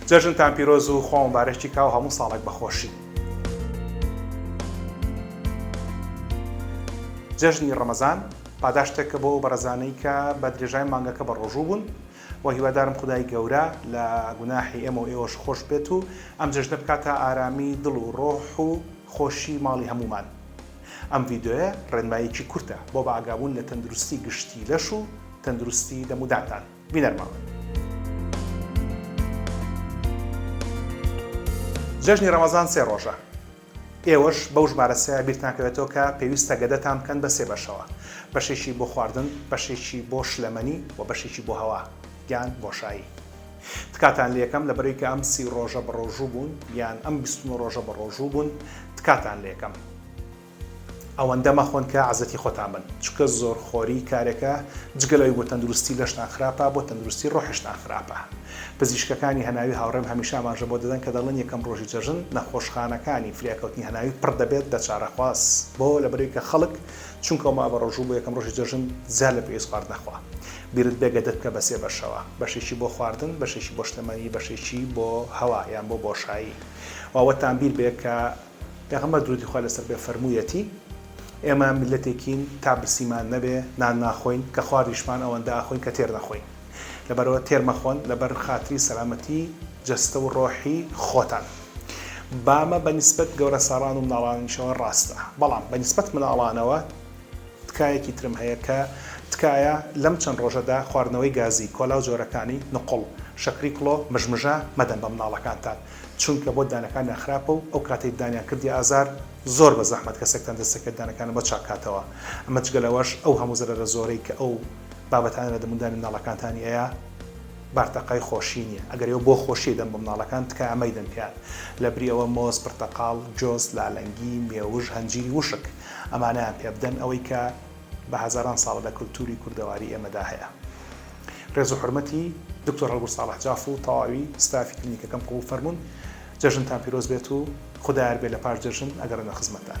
جەژنتان پیرۆز و خوا مبارەکی کا و هەموو ساڵێک بە خۆشی. جەژنی ڕەمەزان پاداشتێکە بۆ ئەو بەڕێزانەی کە بە درێژای مانگەکە بەڕۆژوو بوون و هیوادارم خدای گەورە لە گوناحی ئێمە و ئێوەش خۆش بێت و ئەم جەژنە بکاتە ئارامی دڵ و ڕۆح و خۆشی ماڵی هەموومان. ئەم ڤیدیۆیە ڕێنماییەکی کورتە بۆ بەئاگابوون لە تەندروستی گشتی لەش و تەندروستی دەمودانتان. بینەرماڵن. جەژنی ڕەمەزان سێ ڕۆژە ئێوەش بەو ژمارە سێیە بیرتان کەوێتەوە کە پێویستە گەدەتان بکەن بە سێ بەشەوە بەشێکی بۆ خواردن بەشێکی بۆ شلەمەنی و بەشێکی بۆ هەوا یان بۆشایی تکاتان لەکەم لە بەرەی کە ئەم سی ڕۆژە بە ڕۆژوو بوون یان ئەم بیستمە ڕۆژە بە ڕۆژوو بوون تکاتان لەکەم ئەوەندە مەخۆن کە عەزێتی خۆتان بن چونکە زۆر خۆری کارێکە جگە لەوەی بۆ تەندروستی لەشتان خراپە بۆ تەندروستی ڕۆحیشتان خراپە پزیشکەکانی هەناوی هاوڕێم هەمیشە ئاماژە بۆ دەدەن کە دەڵێن یەکەم ڕۆژی جەژن نەخۆشخانەکانی فریاکەوتنی هەناوی پڕ دەبێت لە چارەخواز بۆ لەبەرەوەی کە خەڵک چونکەو ما بە ڕۆژوو بۆ یەکەم ڕۆژی جەژن زیاد لە پێویست خواردن ئەخوا بیرت بێ گەدە بکە بە سێ بەشەوە بەشێکی بۆ خواردن بەشێکی بۆ شتەمەنی بەشێکی بۆ هەوا یان بۆ بۆشایی و ئەوەتان بیر بێ کە پێغەمبەر درودی خوا لەسەر بێ فەرموویەتی، ئێمە میللەتێکین تا برسیمان نەبێ نان ناخۆین، کە خواردیشمان ئەوەندە ئەخۆین کە تێر نەخۆین. لەبەرئەوە تێر مەخۆن لەبەر خاتری سەلامەتی جەستە و ڕۆحی خۆتان. بامە بە نیسبەت گەورەساڵان و مناڵانیشەوە ڕاستە، بەڵام بە نیسبەت مناڵانەوە تکایەکی ترم هەیە کە تکایە لەم چەند ڕۆژەدا خواردنەوەی گازی، کۆلا و جۆرەکانی، نقوڵ، شەکری کڵۆ، مژمژە، مەدەن بە مناڵەکانتان. چونکە بۆ دانەکانیان خراپە و ئەو کاتەی دانیان کردیە ئازار، زۆر بە زەحمەت کەسێکتان دەست دەکەوێت دانەکانی بۆ چاک کاتەوە، ئەمە جگە لەوەش ئەو هەموو زەرەرە زۆرەی کە ئەو بابەتانە لە دەموندانی مناڵەکانتانی ئەیا بارتەقای خۆشی نیە، ئەگەر ئێوە بۆ خۆشی ئەیدەن بۆ مناڵەکان تکایە مەیدەن پێیان، لەبری ئەوە مۆز، پرتەقاڵ، جۆز، لالەنگی، مێوژ، هەنجیری وشک ئەمانەیان پێبدەن ئەوەی کە بە هەزاران ساڵە لە کلتوری کوردەواری ئێمەدا هەیە. ڕێز و حورمەتی دکتۆر هەڵگورد ساڵح جاف و تەواوی ستافی کلینیکەکەم قبوڵ فەرموون. جەژنتان پیرۆز بێت و خودا یار بێت لە پاش جەژن ئەگەڕێمە خزمەتتان.